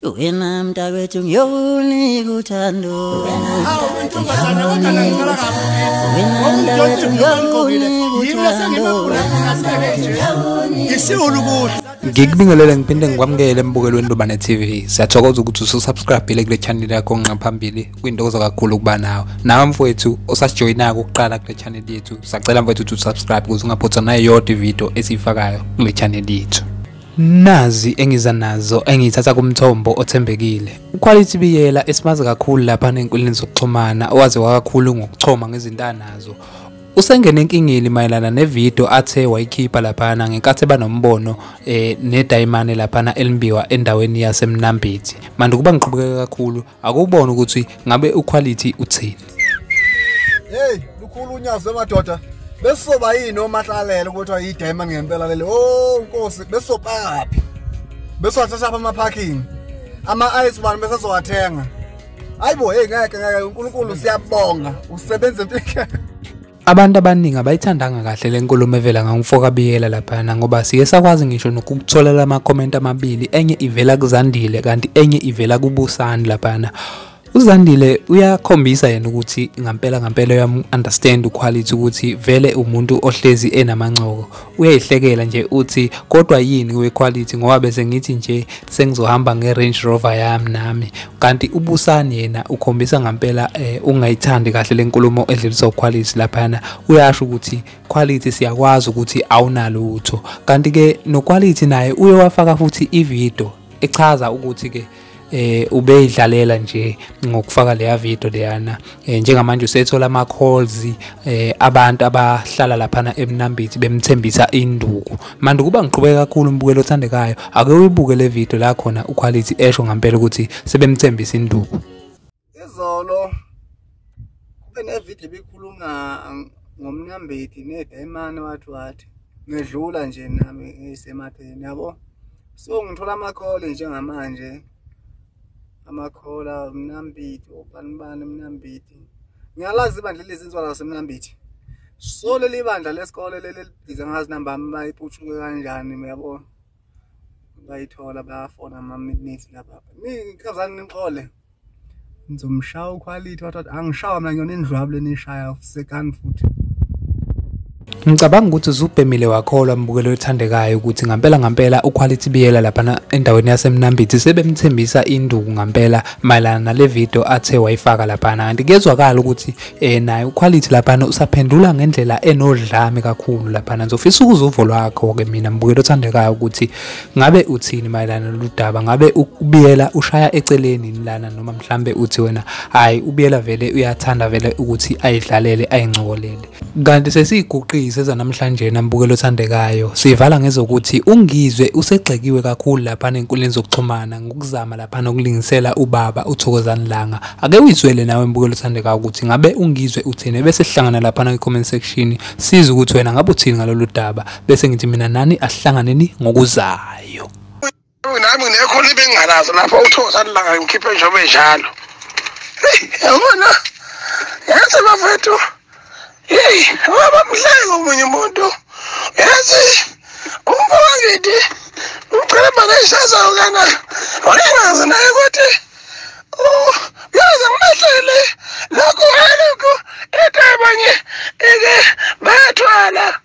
Wena mntakwethu ngiyokunika uthando Hawu intombazana kodwa nangicela kabi Wena mntakwethu ngiyokunika uthando Ngisiwulu kuhle Ngikubingelele ngiphinde ngikwamukele embukelweni Lobane TV. Siyathokoza ukuthi ususubscribile kule channel yakho nqaphambili kwintokozo kakhulu ukuba nawe. Nawe mfowethu osasijoyina ukuqala kule channel yethu. Sacela mfowethu ukuthi usubscribe ukuze ungaphothwa nayo yodwa ivideo esiyifakayo kule channel yethu. Nazi engiza nazo engiyithatha kumthombo othembekile. UQuality Biyela esimazi kakhulu lapha nenkulini zokuxhumana owaze wakakhulu ngokuchoma ngezintanazo. Usengene enkingeni mayelana nevideo athe wayikhipha laphana ngenkathi banombono eh nedayimane laphana elimbiwa endaweni yaseMnambithi. Manje kuba ngiqhubeke kakhulu akubona ukuthi ngabe uQuality uthini. Hey, lukhulu unyazi madoda. Besizoba yini omahlalela ukuthi ayidema ngempela lele. Oh, Nkosi, besizopakaphi? Besizothatha apha ama parking. Ama ice bani besizowathenga. Hayibo, hey ngeke ngeke uNkulunkulu siyabonga. Usebenza impilo. Abantu abaningi abayithandanga kahle le nkulumo evela ngangumfoka Biyela laphana ngoba siye sakwazi ngisho nokukutholela amakhomenti amabili enye ivela kuZandile kanti enye ivela kuBusani laphana. UZandile uyakhombisa yena ukuthi ngampela ngampela uyamu-understand uquality ukuthi vele umuntu ohlezi enamancoko uyayihlekela nje uthi kodwa yini wequality ngoba bese ngithi nje sengizohamba nge-range rover yami nami kanti ubusani yena ukhombisa ngampela eh, ungayithandi kahle le nkulumo edlulisa uquality laphana uyasho ukuthi quality siyakwazi ukuthi awunalutho kanti-ke noquality naye uye wafaka futhi ividiyo echaza ukuthi-ke eh ubeyidlalela nje ngokufaka leya video leyana eh, njengamanje usethola ama calls eh abantu abahlala lapha eMnambithi bemthembisa induku manje kuba ngiqhubeka kakhulu umbukelo othandekayo ake uyibuke le video la khona uquality esho ngempela ukuthi sebemthembisa induku izolo kube nevideo ebikhuluma ngomnambeti nedayimane wathi wathi ngedlula nje nami ngisematheni yabo so ngithola amakhole njengamanje amakhola mnambiti obani bani mnambiti ngiyalazi ibandla lezinzwa lasemnambiti so leli bandla lesikole leli libiza ngazi nambami bayiputshuke kanjani uyabona bayithola bayafona ama-midnight laba nikhazani nixole ngizomshaya ukhwalithi wathi wathi angishawa mina ngiyona indlwabu lenishaya sekani futhi Ngicabanga ukuthi uzubhemile wakholwa mbukelo othandekayo ukuthi ngampela ngampela uQuality Biyela laphana endaweni yaseMnambithi sebemthembisa induku ngampela mayelana nale video athe wayifaka laphana kanti kuyezwakala ukuthi eh naye uquality laphana usaphendula ngendlela enodlame kakhulu laphana ngizofisa ukuza uvo lwakho ke mina mbukeli othandekayo ukuthi ngabe uthini mayelana loludaba ngabe ubiyela ushaya eceleni lana noma mhlambe uthi wena hayi ubiyela vele uyathanda vele ukuthi ayidlalele ayingcokolele kanti sesiyiguqise zanamhlanje nambukelo othandekayo sivala ngezokuthi ungizwe usegxekiwe kakhulu lapha enkundleni zokuxhumana ngokuzama Phana ukulingisela ubaba uThokozani Langa. Ake uyizwele nawe mbukelo uthandeka ukuthi ngabe ungizwe uthini bese sihlangana lapha na comment section siza ukuthi wena ngabe uthini ngalolu daba bese ngithi mina nani asihlanganeni ngokuzayo. Nami ngekho libe ngalazo lapha uThokozani Langa ngikhiphe njengoba enjalo. Hey, yabona. Yazi bafethu Hey, abamhleke omunye umuntu. Yazi umfowangidi uqala bakayishazayo kana. Wayengazi naye ukuthi oh yazi ngimahlele lokho lokho ekhaya banye eke bayathwala.